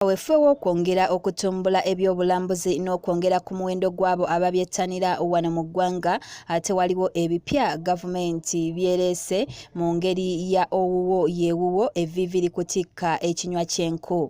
kaweefube w'okwongera okutumbula ebyobulambuzi n'okwongera ku muwendo gw'abo ababyettanira wano mu ggwanga ate waliwo ebipya gavumenti byereese mu ngeri ya owuwo yeewuwo evviivi likutikka ekinywa ky'enku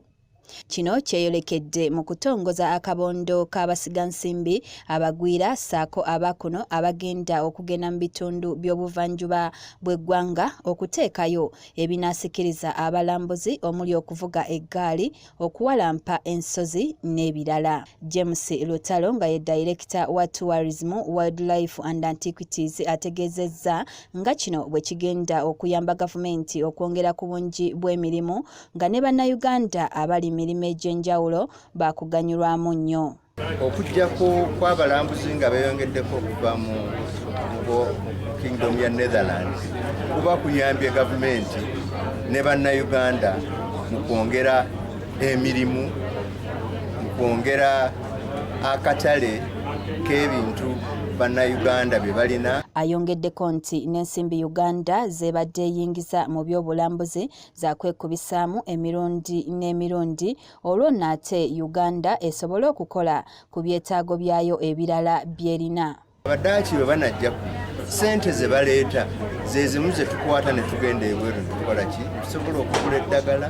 kino kyeyolekedde mu kutongoza akabondo k'abasigansimbi abagwira ssaako abakuno abagenda okugenda mu bitundu by'obuvanjuba bw'eggwanga okuteekayo ebinasikiriza abalambuzi omuli okuvuga eggaali okuwalampa ensozi n'ebirala james lutalo nga ye dayirekita wa tourism wildlife and antiquities ategeezezza nga kino bwe kigenda okuyamba gavumenti okwongera ku bungi bw'emirimu nga ne bannayuganda abali mirimu egy'enjawulo baakuganyulwamu nnyo Okujjako kw'abalambuzi nga beeyongeddeko okuva mu kingdom ya Netherlands kuba kuyambye gavumenti ne bannayuganda mu kwongera emirimu mu kwongera akatale k'ebintu bannayuganda bye balina ayongeddeko nti n'ensimbi uganda z'ebadde eyingiza mu by'obulambuzi zakwekubisaamu emirundi n'emirundi olwo nno ate uganda esobole okukola ku byetaago byayo ebirala byerina abadaaki bwe banajja ku sente ze baleeta zezimu ze tukwata ne tugenda ebweru netukola ki tusobola okugula eddagala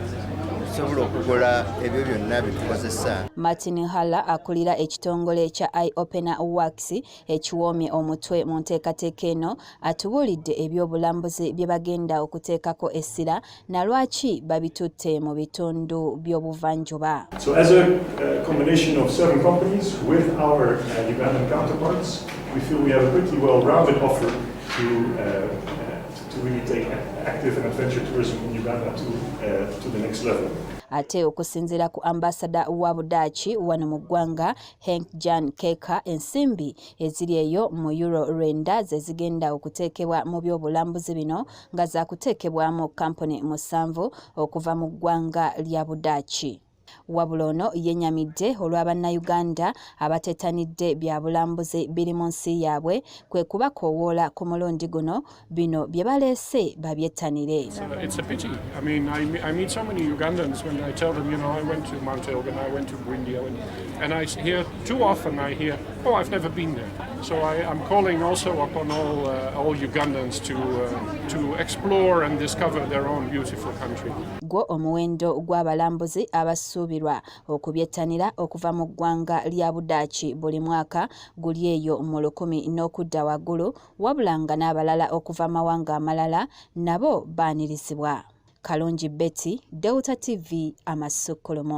tusobola okugula ebyo byonna byetukozesa martin halla akulira ekitongole ekya i opena wax ekiwoomye omutwe mu nteekateeka eno atubuulidde eby'obulambuzi bye bagenda okuteekako essira na lwaki babitutte mu bitundu by'obuvanjuba so as a uh, combination of serving companies with our uh, Ugandan counterparts we feel we have a pretty well rounded offer to uh, uh, to really take active and adventure tourism in Uganda to uh, to the next level ate okusinziira ku ambasada wa budaaki wano mu ggwanga henk jan keka ensimbi eziri eyo mu euro lwenda ze zigenda okuteekebwa mu byobulambuzi bino nga zakuteekebwamu kkampuni musanvu okuva mu ggwanga lya budaaki wabula ono yenyamidde olwa bannayuganda abatetanidde bya bulambuzi biri mu nsi yaabwe kwe kubakoowoola ku mulundi guno bino bye baleese babyettanire Too often I hear, oh, I've never been there. So I, am calling also upon all, uh, all Ugandans to, uh, to explore and discover their own beautiful country. Gwo omuwendo gw'abalambuzi abasuubirwa okubyettanira okuva mu ggwanga lya Budaaki buli mwaka guli eyo mu lukumi n'okudda waggulu wabula nga n'abalala okuva mawanga amalala nabo baanirizibwa. Kalungi Betty, Delta TV, Amasukkulumu.